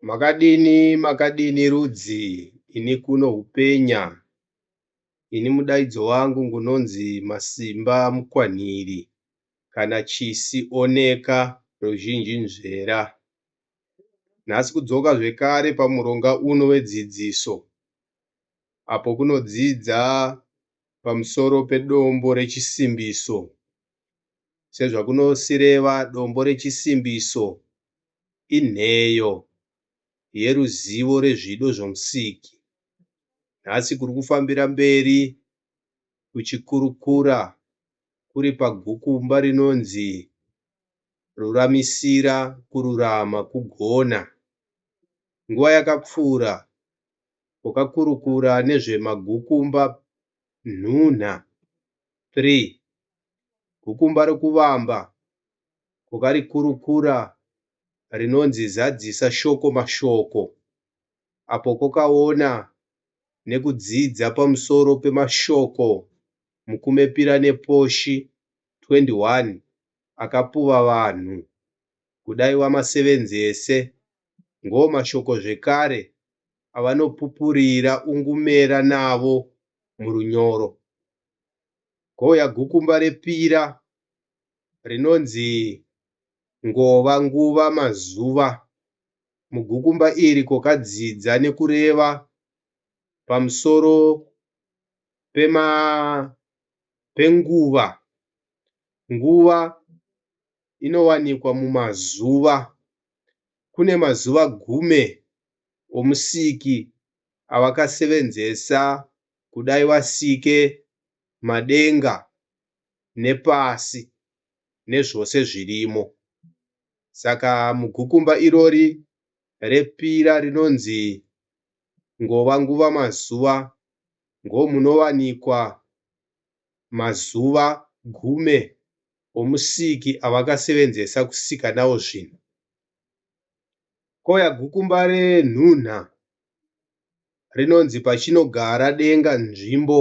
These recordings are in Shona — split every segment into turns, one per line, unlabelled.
Makadini, makadini rudzi, ini kuno hupenya, ini mudaidzo wangu ngunonzi Masimba Mukwanhiri kana Chisi Oneka ruzhinji nzvera. Nhasi kudzoka zvekare pamuronga uno wedzidziso apo kunodzidza pamusoro pedombo rechisimbiso Sezvakunosireva, dombo rechisimbiso inheyo yeruzivo rezvido zvoMusiki. Nhasi kuri kufambira mberi kuchikurukura kuri pagukumba rinonzi Ruramisira Kururama Kugona. Nguva yakapfuura, wakakurukura nezvemagukumba nhunha. 3 gukumba rokuvamba kwakarikurukura rinonzi zadzisa shoko mashoko apo kwakaona nekudzidza pamusoro pemashoko mukumepira neposhi 21 akapuva vanhu kudai wamasevenzese Ngo mashoko zvekare avanopupurira ungumera navo mu runyoro. Ngo ya gukumba repira rinonzi ngova nguva mazuva. Mu gukumba iri kokadzidza ne kureva pamusoro pe ma penguva. Nguva inowanikwa mumazuva. Kune mazuva gumi oMusiki awakasevenzesa kudai wasike madenga nepasi nezvose zvirimo. Saka mugukumba irori repira rinonzi Ngova Nguva Mazuva ngomunowanikwa mazuva gume omusiki avakasevenzesa kusika nawo zvinhu. Koya gukumba renhunha rinonzi pachinogara denga nzvimbo.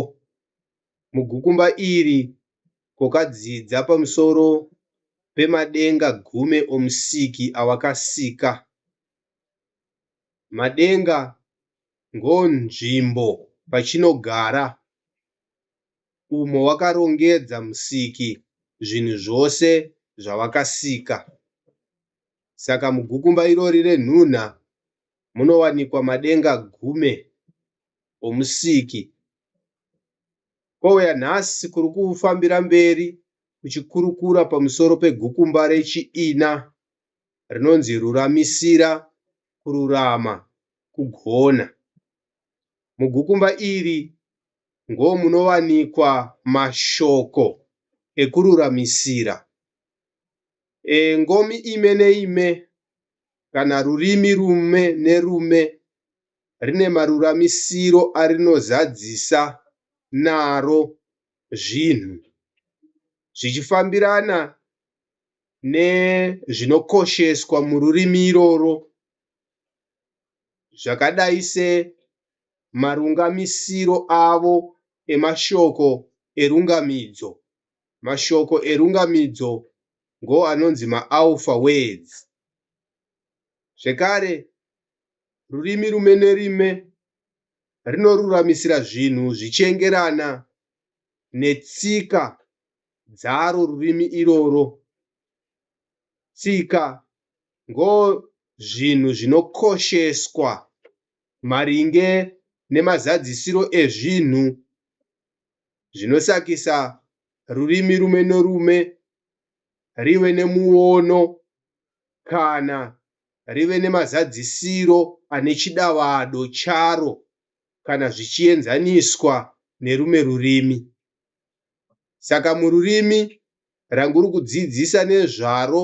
Mugukumba iri kokadzidza pamusoro pemadenga gume omusiki awakasika. Madenga ngo nzvimbo pachinogara. umo wakarongedza Musiki zvinhu zvose zvawakasika. Saka mugukumba irori renhunha munowanikwa madenga gume oMusiki. Kwauya nhasi kuri kufambira mberi kuchikurukura pamusoro pegukumba rechiina rinonzi Ruramisira, Kururama, Kugona. Mugukumba iri ngo munowanikwa mashoko ekururamisira e ngomi ime neime kana rurimi rume nerume rine maruramisiro arinozadzisa naro zvinhu zvichifambirana nezvinokosheswa mururimi iroro. zvakadai semarungamisiro avo emashoko erungamidzo. Mashoko erungamidzo ndiwo anonzi maAlpha Words. Zvekare, rurimi rime nerime rinoruramisira zvinhu zvichiengerana netsika dzaro rurimi iroro, tsika ngo zvinhu zvinokosheswa maringe nemazadzisiro ezvinhu zvinosakisa rurimi rume norume rive nemuono kana rive nemazadzisiro ane chidavado charo kana zvichienzaniswa nerume rurimi. Saka mururimi ranguri kudzidzisa nezvaro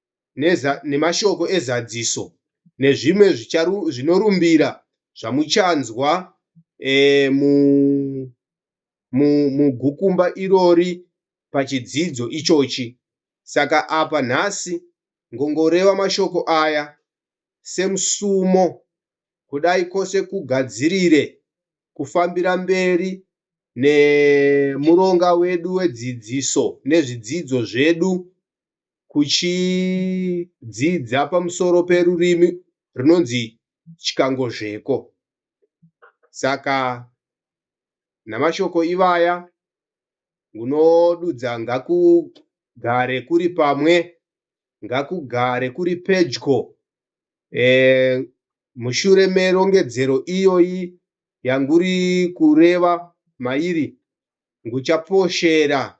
nemashoko ezadziso nezvimwe zvinorumbira zvamuchanzwa mugukumba irori pachidzidzo ichochi. Saka apa nhasi ngongoreva mashoko aya semusumo kudai kwose kugadzirire kufambira mberi nemuronga wedu wedzidziso nezvidzidzo zvedu kuchidzidza pamusoro perurimi runonzi Chikangozveko. Saka namashoko ivaya ngunodudza ngakugare kuri pamwe ngakugare kuri pedyo e, mushure merongedzero iyoyi yanguri kureva mairi nguchaposhera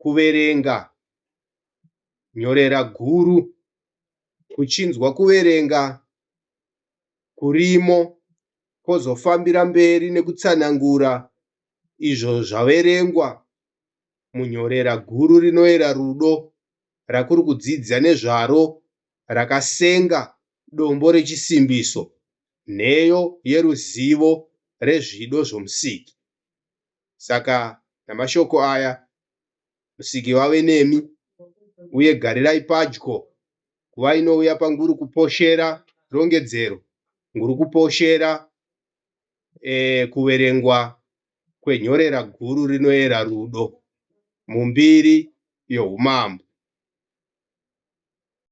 kuverenga nyorera guru kuchinzwa kuverenga kurimo kozofambira mberi nekutsanangura izvo zvaverengwa munyorera guru rinoera rudo rakuri kudzidza nezvaro rakasenga dombo rechisimbiso nheyo yeruzivo rezvido zvoMusiki. Saka namashoko aya, Musiki vave nemi, uye garirai padyo nguva inouya panguri kuposhera rongedzero, nguri kuposhera e, kuverengwa kwenhorera guru rinoera rudo mumbiri youmambo.